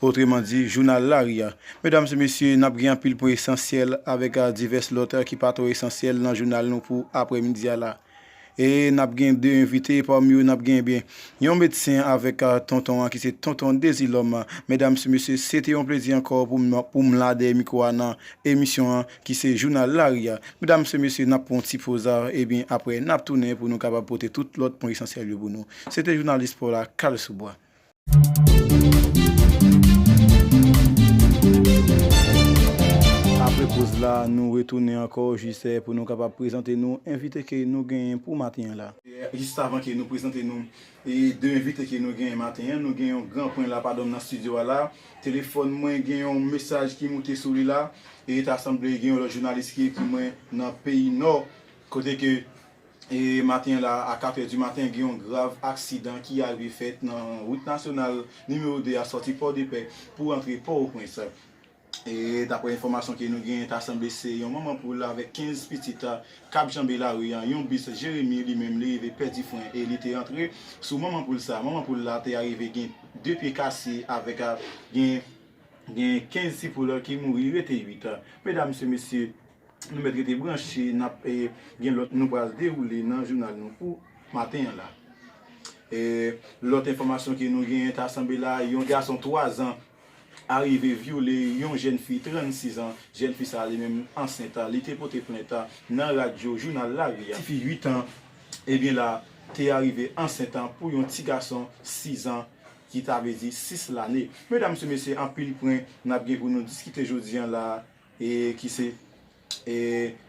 Otreman di, jounal lari a. Medam e mesye, n ap gen anpil pwen esansyèl avèk divès lòt ki pa twò esansyèl nan jounal nou pou aprè midi a la. E n ap gen 2 envite, pami yo n ap gen ebyen yon medsen avèk tonton an ki se Tonton Dezilòm. Medam e mesye, se te yon plezi ankò pou m pou m la dèyè mikwo a nan emisyon an ki se jounal lari a. Medam e mesye, n ap pran yon ti poz ebyen aprè n ap tounen pou nou kapab pote tout lòt pwen esansyèl yo pou nou. Se te jounalis pa w la, Carl Sous Bois. Apre poz la, nou retounen ankò jis pou nou kapab prezante nou envite ke nou genyen pou maten an la. Jistavan ke nou prezante nou 2 envite ke nou genyen maten an, nou gen yon gran pwen la padonm nan stidyo a la. Telefòn mwen gen yon mesaj ki moute sou li la, e ta sanble gen yon lòt jounalis ki ekri mwen nan peyi Nò, kote ke. E maten la a 4 è di maten gen yon grav aksidan ki arive fèt nan wout nasyonal nimewo 2 a sòti Pòdepè pou antre Pòwoprens. E daprè enfòmasyon ke nou genyen ta sanble se yon manman poul avèk 15 pitit kap janbe lari an, yon bis Jeremi li menm li rive pèdi fren e li te antre sou manman poul sa. Manman poul la te arive gen 2 pye kase avèk gen gen 15 ti poul ki mouri rete 8. Medam se mesye. Nou mèt rete branche nap gen lòt nou pral dewoule nan jounal nou pou maten an la. Lòt enfòmasyon ke nou genyen ta sanble la yon gason 3 zan arive vyole yon jèn fi 36 an, jèn fi sa li menm ansent li te pote plent nan radyo jounal lari a. Tifi 8 an ebyen la te arive ansent pou yon ti gason 6 zan ki ta vle di 6 lane. Medam se mesye anpil pwen nap gen pou nou diskite jodi an la. e ki se e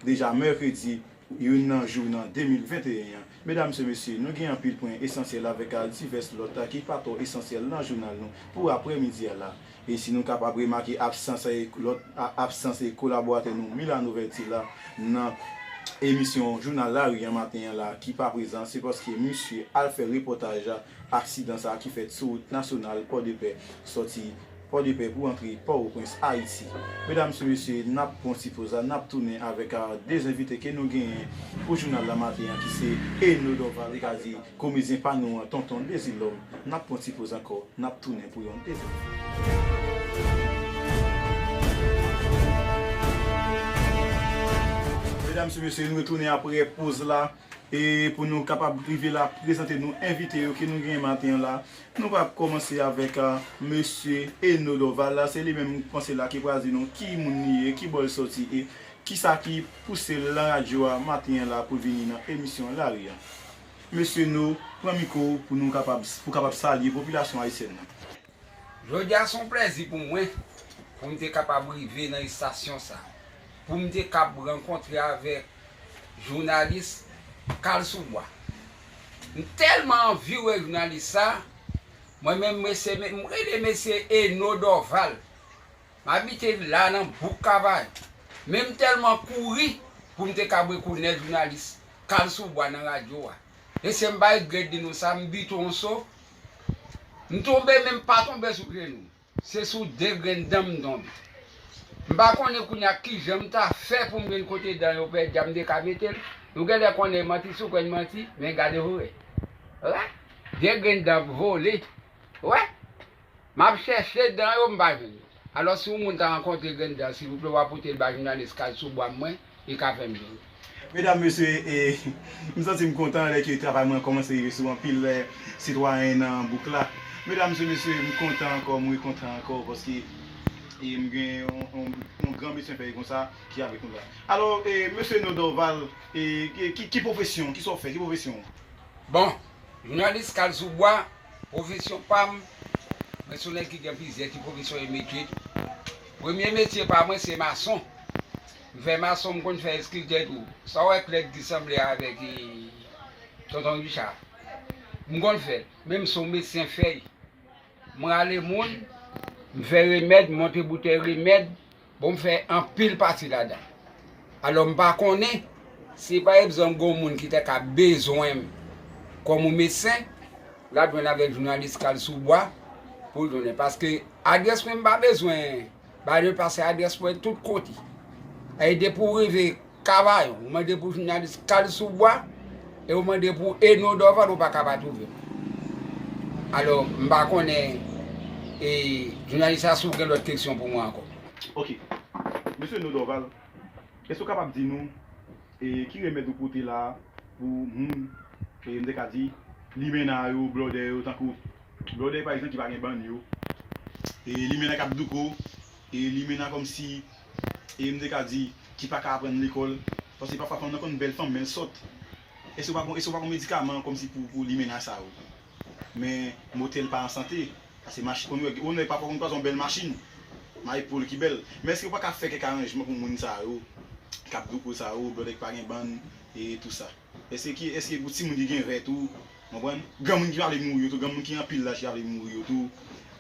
deja mèkredi 1 nan jou nan 2021 an. Medam se mesye, nou gen anpil pwen esansyèl avèk al divès lòt a ki pa twò esansyèl nan jounal nou pou aprè midi a la. E si nou kapab remake absans e lòt a absans e kolaboratè nou Milano Verti la nan emisyon jounal lari an maten an la ki pa prezan se paske misye al fè repòtaj aksidan sa ki fèt sou wout nasyonal Pòdepè sòti Pòdepè pou antre Pòwoprens, Ayiti. Medam e mesye, n ap pran yon ti poz la, n ap tounen avèk 2 envite ke nou genyen pou jounal la maten an ki se Eno Dorval li ka di komedyen pa nou an, Tonton Dezilòm. N ap pran yon ti poz ankò, n ap tounen pou yon dezyèm fwa. Medam e mesye, nou retounen apre poz la e pou nou kapab rive la prezante nou envite yo ke nou genyen maten an la. Nou va kòmanse avèk mesye Eno Dorval la, se li menm m panse la ki pral di nou ki moun li ye, ki bò l sòti e kisa ki pouse l lan radyo a maten an la pou l vini nan emisyon lari a. Mesye Eno, pran mikwo w pou nou kapab, pou w kapab salye popilasyon ayisyèn nan. Jodi a se yon plèzi pou mwen pou m te kapab rive nan estasyon sa, pou m te kab rankontre avèk jounalis Kalsoubwa. M telman anvi wè jounalis sa mwen menm mesye m rele mesye Eno Dorval m abite la nan bouk kavay men m telman kouri poum te ka brekonèt jounalis kal sou bwa nan radyo wa mesye m pa regrèt di nou sa m bite yon so m tonbe men m pa tonbe sou jenou m. Se sou de grenn dan m tonbe. M pa konnen kounye a kijan m ta fè pou m jwenn kote dan yo pèdi a m te ka mete l. Nou genlè konnen e manti si w kwè n manti, men gade pou w wè. Wè! De grenn dan ap vole. Wè! M ap chèche dan yo, m pa jwenn yo. Alò si yon moun ta rankontre grenn dan, silvouplè w a pote l ba jounalis Kay sou bwa m mwen. Li ka fèm byen wi. Medam mesye e m santim kontan lè ke travay mwen kòmanse rive sou anpil sitwayen nan bouk la medam se mesye m kontan ankò m rekontan ankò paske e m gen yon gran mesye anpèy konsa ki avèk nou la alò e mesye non Dorval e ki pwofesyon kisa w fè ki pwofesyon w. Bon jounalis kal sou bwa pwofesyon pa m mwen se yon nèg ki gen plizyè ti pwofesyon e metye tou premye metye pa mwen se mason Vè mason m konn fè eskiltè tou. Sa w wè plèd ki sanble avèk Tonton Richa a? M konn fè l, men m se yon medsen fèy. M rale moun, m fè remèd, m monte boutèy remèd, bon m fè anpil pati ladan l. Alò m pa konnen si pa egzanp gen yon moun ki ta ka bezwen m kòm yon medsen, l ap jwenn avèk jounalis Kalsoubwa pou l jounen. Paske adrès mwen m pa bezwen. Bay le pase adrès mwen tout kote. E depi ou rive kavayon, ou mande pou jounalis kal sou bwa, e ou mande pou Eno Dòval ou pa ka pa twouve l. Alò, m pa konnen e jounalis la si w gen lòt keksyon pou mwen ankò. Ok. Mesye Eno Dòval, èske ou kapab di nou e ki remèd ou pote la a pou moun e m te ka di limena yo, blòdè yo tankou Blòdè pa egzanp ki pa gen bann yo. E limena kap douko. E limena kòmsi e m te ka di ki paka aprann lekòl. Paske pafwa fanm nan konn bèl fanm menl sòt. Èske ou pa gon medikaman kòmsi pou limena sa yo. Men motèl pa an sante. Pase machin konn wè. Yon nèg pafwa konn kwaze yon bèl machin. Mayi po l ki bèl. Men èske ou paka fè kèk aranjman pou moun sa yo. Kap douko sa yo. Blòdè ki pa gen bann e tousa. Eske eske pou timoun ki gen vè tou konprann granmoun ki pa vle mouri yo tou granmoun ki anpil laj ki pa vle mouri yo tou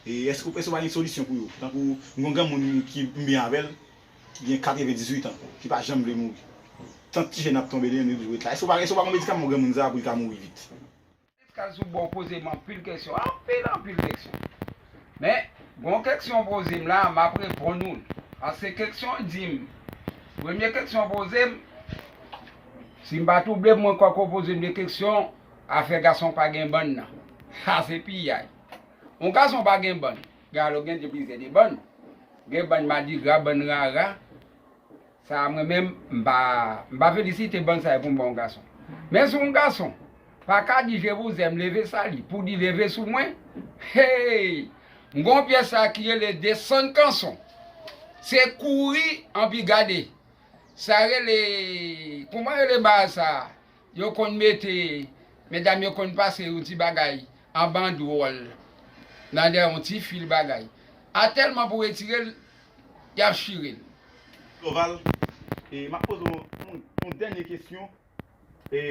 e eske ou pa gen solisyon pou yo tankou m gon granmoun ki m byen avèl ki gen 98 an ki pa janm vle mouri tant ti jèn ap tonbe li menm li oblije ret la eske ou pa eske ou pa gon medikaman pou granmoun sa pou li ka mouri vit. Pascal sou bon poze m anpil kesyon anpil anpil kesyon men gon kesyon poze m la map reponn ou l paske kesyon di m premye kesyon poze m si m pa twouble m mwen kwè ke w poze m de kesyon afè gason pa gen bann nan sa se piyay yon gason pa gen bann gen alo gen plizyè de bann gen bann madigra bann rara. Sa a mwen menm m pa m pa felisite bann sa yo pou m ba yon gason. Men si yon gason pa ka di je vous aime leve sa li pou di leve sou mwen heyy m gen yon pyès sa ki rele desann kanson se kouri anpi gade sa rele kouman rele bagay sa yo konn mete medam yo konn pase yon ti bagay an bandwòl nan dèyè yon ti fil bagay a tèlman pou retire l Yap chire l. Dorval, e map poze w yon dènye kesyon e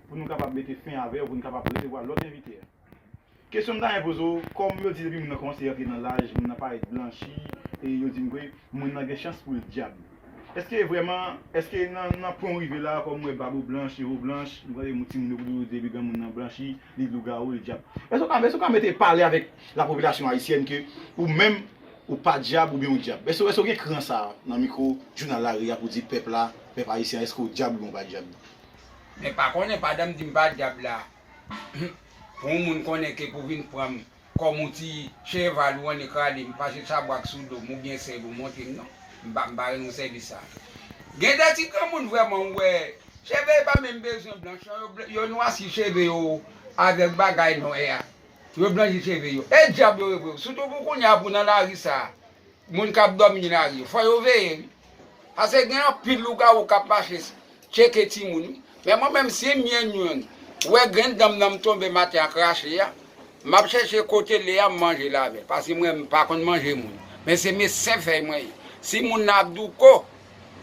pou nou kapab mete fen avè w pou nou kapab resevwa lòt envite. Kesyon m ta renmen poze w, kòm yo di depi moun nan kòmanse rantre nan laj, moun nan parèt blanchi e yo di m ke moun nan gen chans pou l dyab. Eske vrèman, eske nan pwen w rive la, kòm m wè bab ou blanch, je w blanch, m tande ti moun yo toujou di depi granmoun nan blanchi, li lougawou, li dyab. Eske w ka mete pale avèk lapopilasyon ayisyèn ke ou menm Ou pa dyab oubyen ou dyab? Èske èske ou gen kran sa a nan mikwo jounal lari a pou di pèp la, pèp ayisyen an èske ou dyab oubyen ou pa dyab? Men pa konnen pa dan m di m pa dyab la Humm pou yon moun konnen ke pou vin pran m kòm yon ti cheval ou annik rale m pase chabrak sou do m oubyen sèl ou monte m non M pa m pa renmen sèvis sa a Gen de ti granmoun vrèman ou wè cheve yo pa menm bezwen blanch non yo nwa si cheve yo avèk bagay nwè a. Yo blanji cheve yo. E dyab yo ye vre. Sitou pou kounya pou nan lari sa a. Moun k ap dòmi nan lari yo. Fò yo veye wi. Pase gen anpil lougawou k ap mache tcheke timoun wi. Men mwen menm si m jwenn youn, wè grenn dan m nan m tonbe maten ak rache a, m ap chèche kote l ye a m manje l avè l. Pase mwen m pa konn manje moun. Men se mesyen fèy mwen ye. Si moun nan ap douko.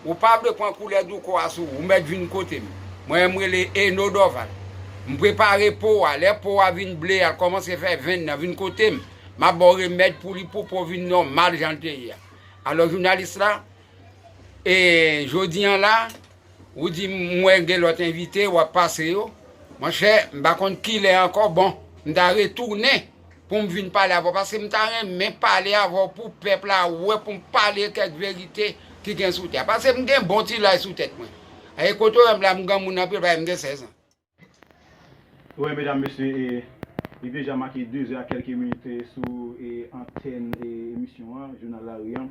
Ou pa vle pran koulè douko a sou ou, ou mèt vin kote m. Mwen menm m rele Eno Dòval. M prepare po a, lè po a vin ble a, l kòmanse fè venn nan, vin kote m, m ap ba w remèd pou li pou po vin nòmal jan l te ye a. Alò jounalis la, e jodi an la, ou di m, m wè gen lòt envite w ap pase yo, monchè m pa konn kilè ankò, bon, m ta retounen. pou m vin pale avè w paske m ta renmen pale avè w pou pèp la wè pou m pale kèk verite ki gen sou tè a paske m gen bon ti laj sou tèt mwen e kote w wè m la m granmoun anpil paske m gen 16 ans. Wè medam mesye e li deja make 2 zè ak kèlke minit sou antèn emisyon an jounal lari an.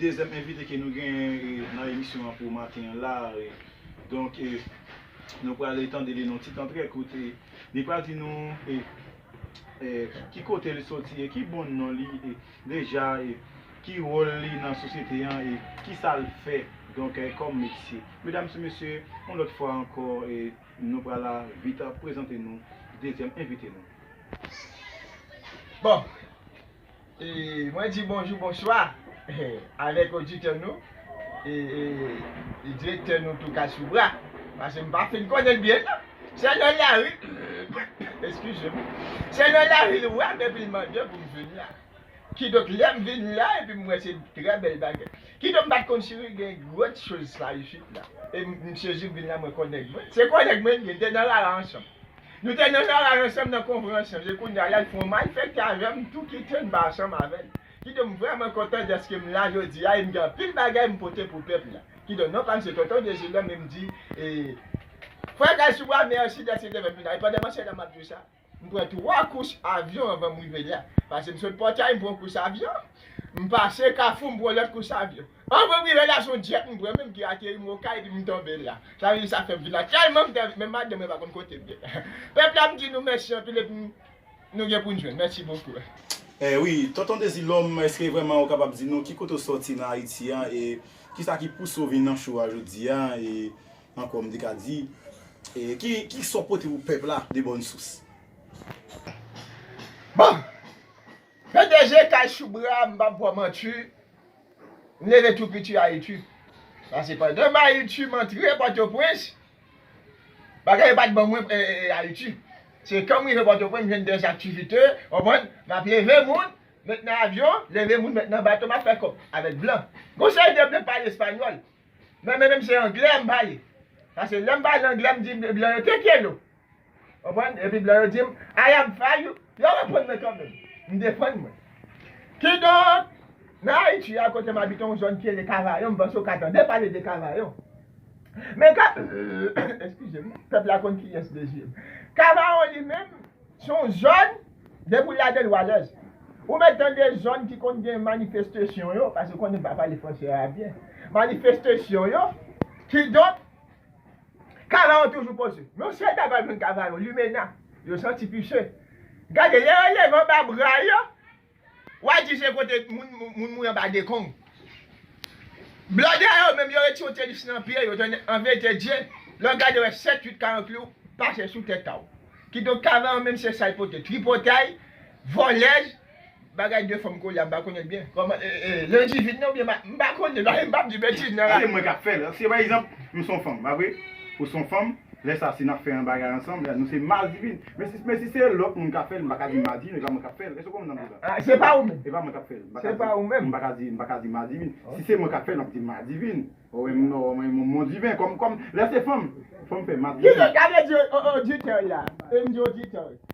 Dezyèm envite ke nou genyen nan emisyon an pou maten an la a, donk nou pral tande li nan yon ti tan trè kout e li pral di nou ki kote li soti e ki bon non li deja e ki wòl li nan sosyete an e ki sa l fè donk kòm metye. Medam e mesye, yon lòt fwa ankò nou pral vit prezante nou dezyèm envite nou. Bon! E mwen di bonjou bonswa avèk oditè nou e direktè nou Toukasoubra pase m pa fin konnen l byen nan. Se nan lari, eskize m, se nan lari l wè m epi l mande pou m vin la. Kidonk lè m vin la epi m wè se trè bèl bagay. Kidonk m pa t konn si gen gwo choz sa isit la. E m sezi m vin la mwen konnen nèg mwen. Se gwo nèg mwen li ye, n te nan rara ansanm. Nou te nan garaj ansanm nan konferans lan, e kounye a li fè yon malfèkte avè m tou ki te anba chanm avè l. Kidonk m vrèman kontan dèske m la jodi a e m gen anpil bagay m pote pou pèp la. Kidonk non pa m se Tonton Dezilòm e m di Frè Kalsibwa mèsi dèske w te fè m vin la. E pandan m an Seyèl la m ap di w sa, m pran 3 kous avyon anvan m rive la. Pase m sot Pòtay m pran yon kous avyon, m pase Kafou m pran yon lòt kous avyon. Anmweyy wi lè gason djèp m pran menm ki ateri m okay epi m tonbe la sa vle di sa fèm vin la tèlman m tèl menm madanm mwen pa konn kotem ye pèp la m di nou mèsi anpil epi nou gen pou n jwenn mèsi bokou. Eh wi tonton dezilòm eske vrèman ou kapab di nou ki kote ou sòti nan ayiti an e kisa ki pouse ou vin nan show a jodi a e ankò m te ka di e ki sa w pote pou pèp la de bòn sous. Bon! Pdg kay Shubra m pap bò manti M leve tou piti a Itu. Sa se pandan m a Itu m antre Pòtoprens. Bagay yo pa t bon mwen a Itu. Se kan m rive Pòtoprens m jwenn dè aktivite, konprann, m ap leve moun, met nan avyon, leve moun met nan bato m ap fè kòb avèk blan. Gon seri de blan k pale espanyòl. Men mwen menm se anglè m pale. Pase lè m pale anglè m di blan yo, Te quiero. Konprann? Epi blan yo di m, I am for you. Yo reprann mwen kanmenm. M defann mwen. Kidonk, nan Ayiti a kote m abite yon zòn ki rele Kavayon, m panse ou ka tande pale de Kavayon. Men ka, eskize m, pèp la konn kiyès de je m. Kavayon li menm, se yon zòn, depi w ladan l w alèz. Ou mèt tande zòn ki konn gen manifestesyon yo, paske ou konnen m pa pale franse a byen, manifestesyon yo, kidonk, Kava an toujou poze. Yon sèl bagay wap jwenn kava yo limena. Yo santi pise. Gade lè yo leve anba bra yo, wa di se kote moun mouri anba dekong. Blòdè yo menm yo retire tenis nan pye yo tande anvètèdye, lè w gade w wè 7, 8 karankli w pase sou tèt a w. Kidonk kava an menm se sa l pote, tripotay, vòlèz, Bagay de fanm kolye a mpa konnenl byen. Kòman Landy vin nan oubyen mpa konnen non e mpap di betiz nan radyo. Gade mwen kap fèl si pa egzanp nou son fanm pa vre ou son fanm lè sa si nap fè yon bagay ansanm lè nou se mal divin men si se lòt moun kap fèl mpaka di mal divin epa mwen kap fèl èske ou konprann sa mvle di la epa mwen kap fèl mpaka di mal divin si se mwen kap fèl map di mal divin ou mon divin kòm lè se fanm fanm fè mal divin. Kizè gade di oditè ya em di oditè.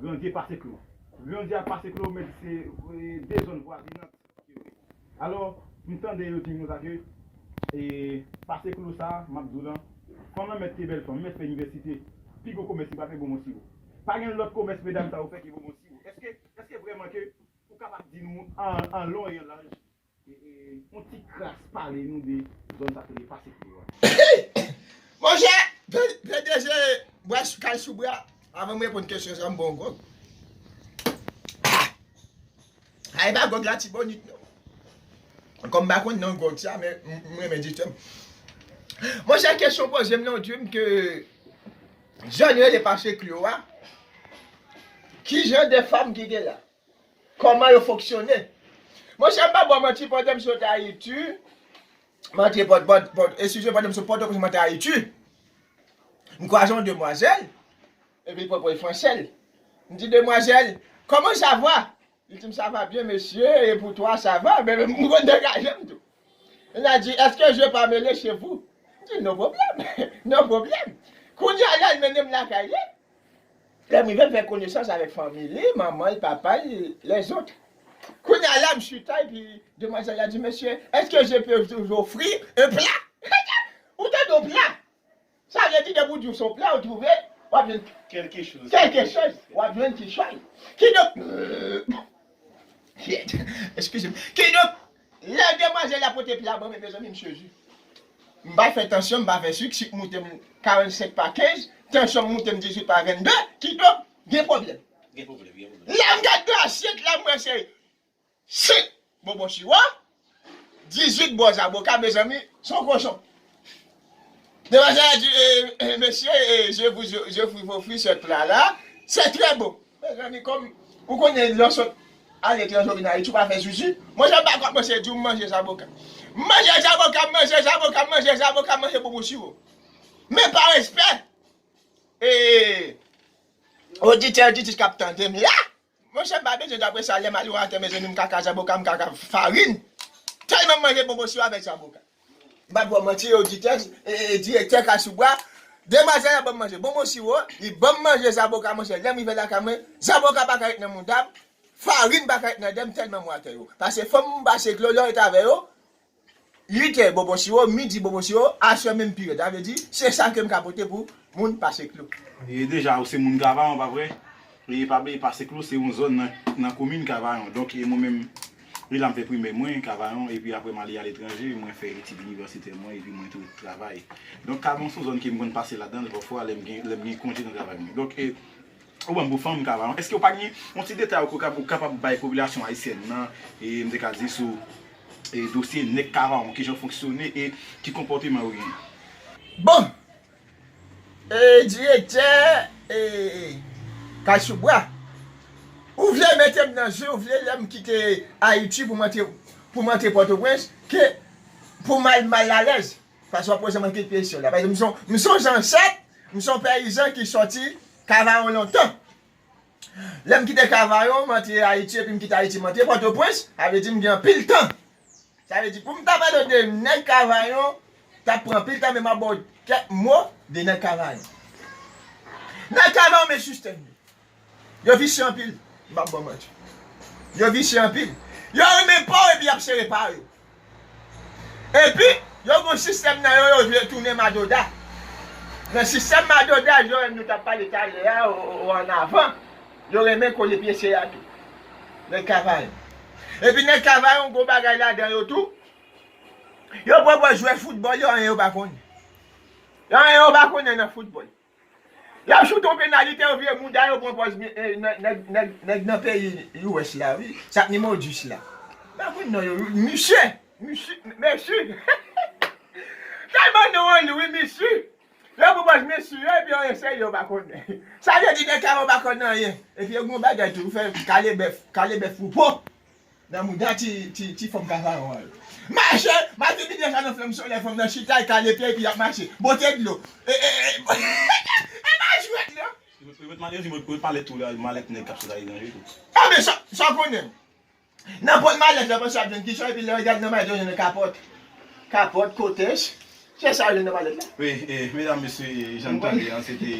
Grandye pase klo. Grandye a pase klo men se 2 zòn vwazinant yo ye. Alò, m tande yo di konsa ke e pase klo sa a, m ap di w lan, fanm lan mèt te bèl fanm, mèt fè inivèsite, pi gwo komès li pa fè bonbon siwo. Pa gen lòt komès medam sa yo fè ke bonbon siwo. Èske, èske vrèman ke ou kapab di nou an lon e an laj Monchè, pdg bwa kay sou bra, avan m reponn kesyon sa m bon yon gròg. A e pa gròg latibonit non. Kòm m pa konn non gròg sa men m renmen di tèm. Monchè kesyon w poze m lan w di m ke zòn rele pase Klyo a, ki jan de fanm ki gen la? Koman yo fonksyone. Monchè m pa ba w manti pandan m sot Ayiti, m antre pòt, eskize m, pandan m sot Pòtoprens m antre Ayiti, m kwaze yon demwazèl, epi li poko e fransè l. M di demwazèl, Kòman sa va? Li di m sa va byen mesye, e pou twa sa va? Men m konn degaje m tou. Li la di, Eske je pa mele chez vous? M di no pwoblèm, no pwoblèm. Kounye a la l mennen m lakay li, Lèm rive l fè konesans avèk fanmi li, manman l, papa l, lèzot. Kounye a la m chita epi demwazèl la di mesye eske je peux vous offrir un plat? Ou tande yon pla? Sa vle di depi w di w se yon pla ou twouve w ap jwenn Kèlke choz. kèlke choz, w ap jwenn kichòy. Kidonk, Kyèt, eskize m. Kidonk, Lè demwazèl la pote pla banm mezanmi m sezi. M pa fè tansyon, m pa fè sik, sik m moute m 45 pa 15, tansyon m moute m 18 pa 22, kidonk gen pwoblèm. Gen pwoblèm, gen pwoblèm. Lè m gad nan asyèt la m wè se 5 bonbon siwa, 18 bon zaboka mezanmi son kochon. Demoiselle a di, eh, mesye, eh, je vous, je vous offri ce plat là, c'est très bon. Mezanmi, kòm ou konnen lè w sot aletranje ou vin Ayiti ou pa fè zuzu, mwen jan pa kòmanse di w m manje zaboka. M manje zaboka, m manje zaboka, m manje zaboka, m manje bonbon siwo. Men pa respè, eh, oditè, oditrice k ap tande m la, Monchè pa bezwen dapre sa lèm al yon atè mezanmi mkaka zaboka mkaka farin tèlman m manje bonbon siw avèk zaboka mpa bwè manti oditè e direktè kasoubwa demwazèl la banm manje bonbon siwo li banm manje zaboka monchè lèm rive lakay mwen zaboka paka ret nan moudam farin paka ret nan dèm tèlman m watè yo pase fòm m pase dlo lè w ret avè yo 8è bonbon siwo, midi bonbon siwo, aswè menm pi rèd. Sa vle di, se sa ke m ka pote pou moun Pase Klou. E deja ou se moun Kavayon pa vre? E pa bliye Pase Klou se yon zòn nan komin Kavayon. Donk e mwen menm, e la m fè primè mwen, Kavayon, epi apre m ale aletranje, mwen fè etid inivèsitè mwen epi mwen tou travay. Donk Kavayon se yon zòn ke m konn pase ladan l pafwa lè m gen konje nan travay mwen. Donk e. Ou banm pou fanm kava. Eske ou pa gen yon ti detay ou kapab ou kapab bay popilasyon ayisyèn nan e m te ka di sou e dosye nèg kavaron kijan yo fonksyone e ki konpòteman yo genyen? Bon! E direktè e kay sou bwa. Ou vle mete m nan je ou vle lè m kite Ayiti pou m antre pou m antre Pòtoprens ke pou m al mal alèz? Fason wap poze mwen ki kesyon la. Paske m son zansèt, m son peyizan ki soti Kavayon lontan. Lè m kite Kavayon, m antre Ayiti epi m kite Ayiti m antre Pòtoprens, sa vle di m gen anpil tan. Sa vle di pou m ta pale de nèg Kavayon, t ap pran anpil tan men m ap ba w kèk mo de nèg Kavayon. Nèg Kavayon men sistèm yo. Yo visye anpil. M pap ba w manti. Yo visye anpil. Yo renmen pa w epi y ap sere pa yo. Epi, yo gen yon sistèm nan yo, yo vle tounen madoda. Nan sistèm madoda yo, nou t ap pale talè a ou ann avan, yo renmen kole pye se a tou. Nèg Kavayon. Epi nèg Kavayon gen yon bagay ladan yo tou, yo pran pou jwè foutbòl, yo anyen yo pa konnen. Yo anyen yo pa konnen nan foutbòl. Yap joute yon penalite yo vire mouda yo pran pòz nèg nan peyi US la wi sa k nimewo 10 la pa konn non yo wi misye misye messi tèlman non an lou wi missi yo pran pòz messi yo epi yo eseye yo pa konn sa vle di nèg sa yo pa konn anyen epi yo gen yon bagay tou yo fè kalebèf kalebèf pou po. Nan mouda ti ti ti fanm ka paròl. Mache! Martini deja nan flanm solèy fanm nan chita li kale pye epi yap mache. Bote dlo. E e e e pa jwèt nan. Yo met malerzi mwen yo pale tou la malèt nèg kap sot ale nan yo tou. Ah men sa sa konnen nan pòt malèt la panse lap jwenn kichòy epi lè yo gad nan malèt yo jwenn yon kapòt. Kapòt kotex. Chè sa yo jwenn nan palèt la. Wi e medam mesye jan nou tande an se te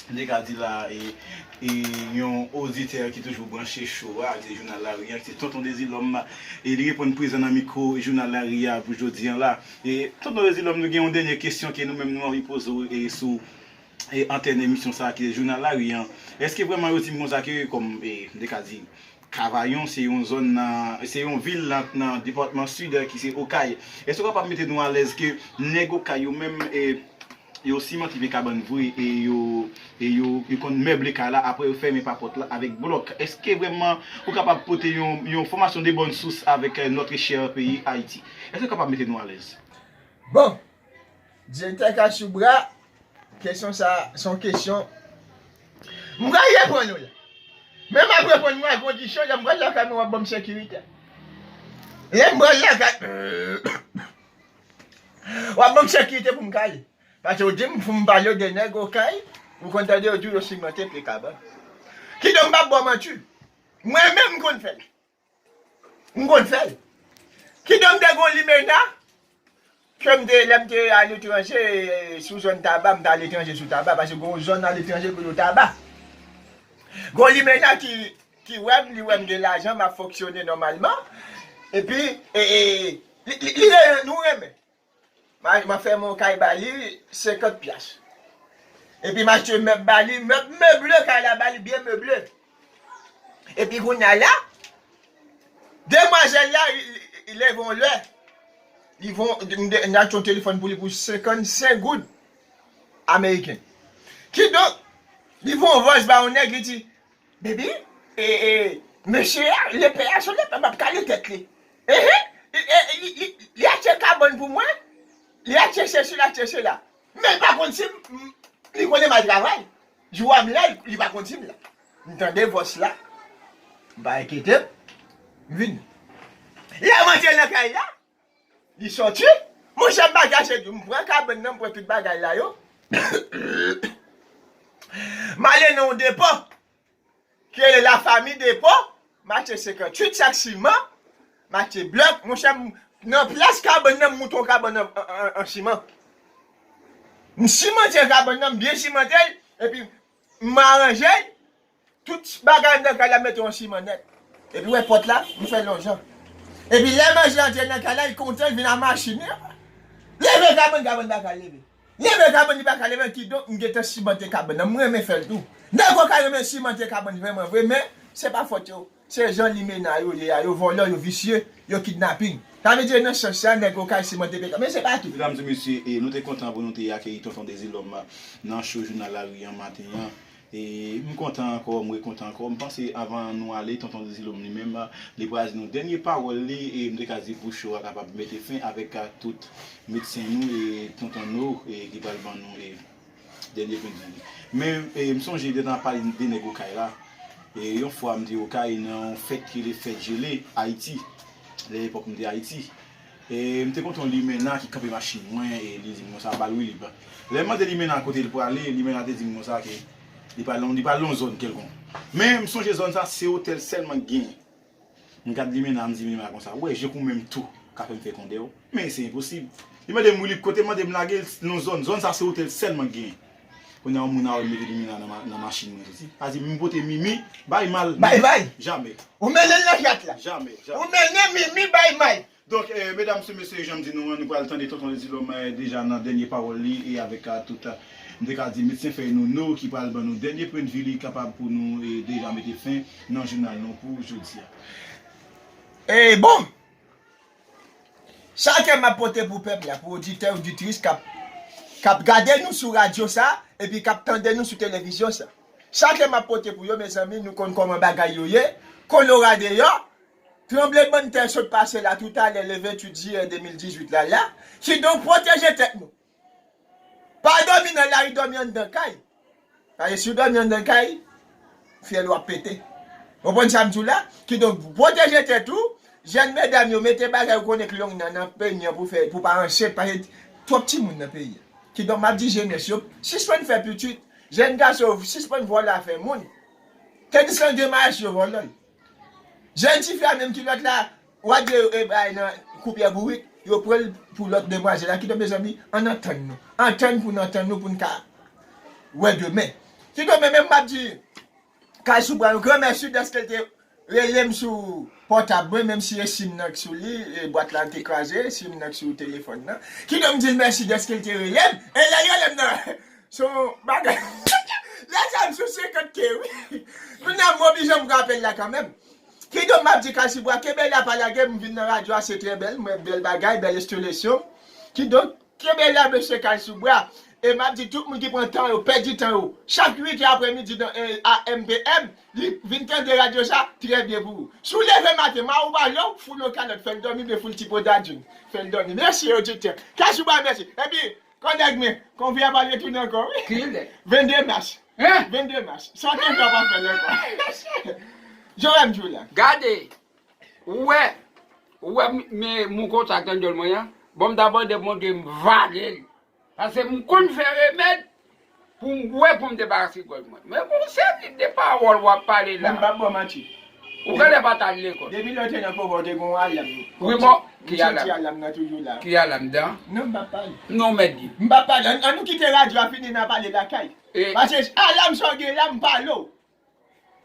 de ka di la e yon oditè ki toujou branche cho a ak jounal lari a ki se Tonton Dezilòm e li reponn prezan nan mikwo jounal lari a pou jodi an la e Tonton Dezilòm nou gen yon dènye kesyon ke nou menm nou anvi poze w e sou antèn emisyon sa ki se jounal lari an èske vrèman yo di m konsa ke kòm e de ka di Kavayon se yon zòn nan, se yon vil nan depatman Sid ki se Okay. Èske ou kapab mete nou alèz ke nèg Okay yo menm yo simante vye kabann vre e yo e yo yo konn mèble kay la aprè yo fèmen pa pòt la avèk blòk. Èske vrèman ou kapab pote yon yon fòmasyon de bòn sous avèk notre cher pays Haïti. Èske ou kapab mete nou alèz? Bon! Direktè Kashoubra, kesyon sa a se yon kesyon m pral reponn ou li. Men m ap reponn ou a kondisyon lè m pral lakay mwen w ap ban m sekirite. Lè m pral lakay w ap ban m sekirite pou m ka ale. Pase ou di m pou m pale w de nèg Okay, ou konn tande yo di w yo simante pye kabann. Kidonk m pa ba w manti. Mwen menm m konn fè l. M konn fè l. Kidonk m te gen yon limenna ke m te lè m te aletranje sou zòn Taba, m te aletranje sou Taba paske gen yon zòn aletranje ki rele Taba. Gen yon limenna ki wè m, li wè m gen lajan, m ap fonksyone nòmalman epi li renmen, nou renmen. Mari m ap fè mwen yon kay ba li 50 pyas. Epi m achte mèb ba li, mèb meble kay la ba li byen meble. Epi kounya la, demwazèl la leve yon lè, li von, m achte yon telefòn pou li pou 55 goud ameriken. Kidonk, li von vòs ba yon nèg, li di, Baby, e, e, mesye a, lepè a sot lepè map kale tèt li. Ehe, li, e, li, li, li achte kabòn pou mwen, li achte sesi, li achte sela. Men li pa konn si m, m, li konnen m al travay. Jou a m la, li pa konn si m la. M tande vòs la, m pa enkyete m, m vini. Lè m antre nan kay la, Li sòti? Monchè bagay se di, m pran kabann nan, m pran tout bagay la yo, m ale nan yon depo ki rele la fami depo, m achte 58 sak siman, m achte blòk, monchè m nan plas kabann nan m moute yon kabann an siman. M simante kabann nan, m byen simante l, epi m aranje l. Tout bagay nan kay la mete yon siman nèt. Epi wè pòt la, li fè yon jan. Epi lè manje antre nan kay la, li kontan, li vin a mache. Men apa! Leve kabann, kabann pa ka leve. Leve kabann, li pa ka leve. Kidonk, m gentan simante kabann nan. M renmen fè l tou. Nèg okap renmen simante kabann vrèman vre, men, se pa fòt yo. Se jan limena yo ye a yo vòlò yo visye yo kidnaping sa vle di nan sans sa nèg okay simante pk men se pa tout. Medam di mesye e nou te kontan pou nou te akeyi tonton dezilòm nan show jounal la rii an maten an e m kontan ankò m re kontan ankò m panse avan nou ale tonton dezilom li menm li pral di nou dènye pawòl li e m te ka di pou show a kapab mete fen avèk tout medsen nou e tonton no e ki pral ban nou e Dènye pwen zanmi. Men m sonje de nan pale de nèg okay la. Yon fwa m te okay nan yon fèt ki rele fèt jele Ayiti. Lè epòk m te Ayiti. M te kontre yon limena ki kanpe machin mwen e li di m konsa bal Wilib. Lè m mande limena kote l prale, limena te di m konsa ke li prale nan yon zòn kèlkonk. Men m sonje zòn sa se otèl sèlman ki genyen. M gad Limena m di Limena konsa ou wè je k ou menm tou ka fè m fè kondè w men se enposib Li mande m Wilip kote mande m lage l non zòn zòn sa se otèl sèlman k genyen Kounye a yon moun arme mete Limena nan machin mwen soti a di m pote Mimi bay May May May Jamè Ou mennen l nan jat la Jamè Jamè Ou mennen Mimi bay May Donk medam se mesye janm di nou an nou pral tande tonton Edilom deja nan dènye pawòl li e avèk tout m te ka di medsen fèy nou nou ki pral ban nou dènye pwendvi li kapab pou nou deja mete fen nan jounal nou pou jodi a. Bon! Sa ke map pote pou pèp la, pou oditè oditris kap kap gade nou sou radyo sa epi kap tande nou sou televizyon sa. Sa ke map pote pou yo mezanmi nou konn kòman bagay yo ye, kolora deyò, Tranblemanntè sot pase la toutalè le 28 jiyè 2018 la la, kidonk pwoteje tèt nou. Pa dòmi nan lari dòmi anndan kay, paske si w dòmi anndan kay, fyèl ou ap pete. Konprann sa m di w la? Kidonk pwoteje tèt ou, jèn medam yo mete bagay ou konnen k long nan nan peny an pou fè pou pa ansent paske twòp timoun nan peyi a. Kidonk m ap di jenès yo sispann fè pitit, jèn gason yo sispann vòlò afè moun, tandiskan gen mayèst yo vòlò l. Jèn tifi a menm ki lòt la wap di yo bay nan kou pyè bourik yo pranl pou lòt demwazèl la kidon mezanmi ann antann nou antann poun antann nou poun ka wè demen kidon men menm map di kay sou bwa yon gran mèsi dèske l te relem sou pòtab mwen menm si e sim nan k sou li e bwat la te kraze sim nan k sou telefòn nan kidon m dil mèsi dèske l te relem e lèl relem nan. Se yon bagay Lè sa m sou 50 ke wi Kounye a m oblije m pran apèl la kanmèm Kidonk m ap di Kalsibwa kenbe la pa lage m vin nan radyo a se trè bèl m wè bèl bagay bèl estilesyon Kidonk kenbe la mesye Kalsibwa E m ap di tout moun ki pran tan yo pèdi tan yo chak 8 è aprè midi nan AM PM li vin tande radyo sa trè byen pou ou Si w leve maten ma ou pa lè w foul yon kalòt fè l dòmi oubyen foul ti podadoun fè l dòmi Mèsi oditè Kalsibwa mèsi Epi Kodak men, konfi a pa retounen ankò wi. Ki lè? 22 mas. Hein? 22 mas. San kenfè ou pa fèl ankò. Joram di w la. Gade! Ou wè? Ou wè men mou kontak nan dyòl mwen an? Bon m ta bòde m montre m vale l. Pase m konn fè remèd. Pou m bwè pou m debarase gòj mwen. Men gon seri de pawòl w ap pale la. Mwen pa bwè manti. Ou genlè pa t al lekòl. Depi lè w te nan Koba ou te gen yon alam. Wi bon, ki alam? M santi alam nan toujou la. Ki alam dan? Non m pa p pale. Non w mèt di. M pa p pale. An nou kite radyo a fini n a pale lakay. Pase alam sa w gen la m pale w.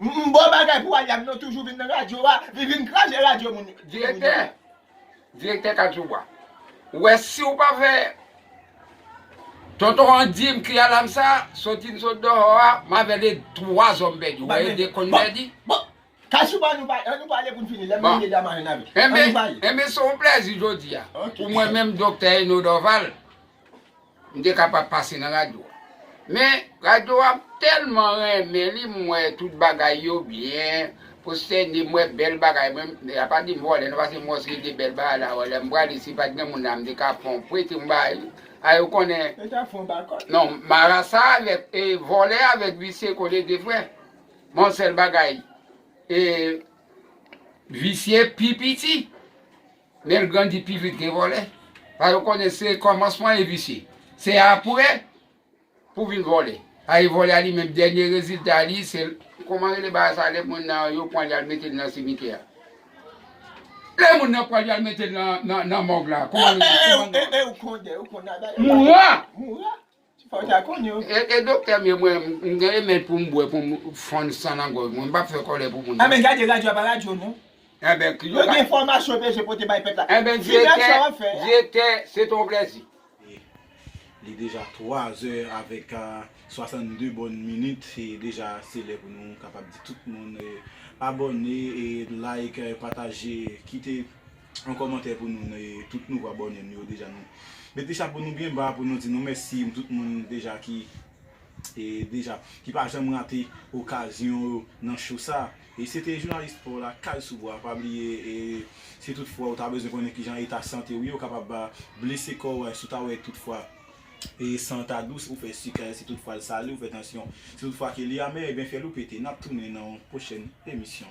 Bon bagay pou Aliam non toujou vin nan radyo a li vin kraze radyo moun yo. Direktè Direktè Kadzoowa ou wè siw pa fè Tonton an dim kri alam sa soti n sot dehò a m avèl e 3 zòm bèdi ou wè e 2 konn bèdi. Bon Kadzoowa an nou pale pou n fini lèm rive dema jwenn avèw an nou pale. Enben se yon plèzi jodi a pou mwen menm Doktè Eno Dòval. M te ka pa pase nan radyo a. Men, radyo a m tèlman renmen li, m wè tout bagay yo byen, pwostène, m wè bèl bagay. Mwen, y a pa di m vòlè non, paske m wè w se de bèl bagay la wè. Lè m prale, si pa t gen moun la, m te ka pran w prete yon bagay. Ay, ou konnen. Ou ta pran w bakòt. Non, marasa avèk, e vòlè avèk visye kole de frè. Men yon sèl bagay, e visye pi piti. Menl grandi pi vit ke vòlè. Sa yo konnen se komansman e visye. Se apre pou vin vòlè. Paske vòlè a li menm dènye rezilta li se koman rele bagay sa lè moun nan yo pranl yal metel nan simitè a. Lè moun nan pranl yal metel nan mòg la. Koman rele. Mouran. E doktè m yo mwen m gen remèd pou m bwè pou m fonn san nan gòj mwen m pap fè kòlè pou moun non. Enben ki yo bay Enben direktè se t on plèzi. Li deja 3 zè avèk 62 bòn minit e deja se lè pou nou kapab di tout moun abòne e like pataje kite. yon kòmantè pou nou e tout nouvo abòne nou yo deja nou mete chapo nou byen ba pou nou di nou mèsi pou tout moun deja ki e deja ki pa janm rate okazyon yo nan cho sa e se te jounalis spò la kal sou bwa pa bliye e si tout fwa ou ta bezwen konnen kijan eta sante ou ye ou kapab blese kò ou a si ou ta wè tout fwa E san ta dous ou fè sikre si tout fwa l sale ou fè tansyon. Si tout fwa ke li amè ebyen fè l ou pete. Nap tounen nan yon pwochèn emisyon.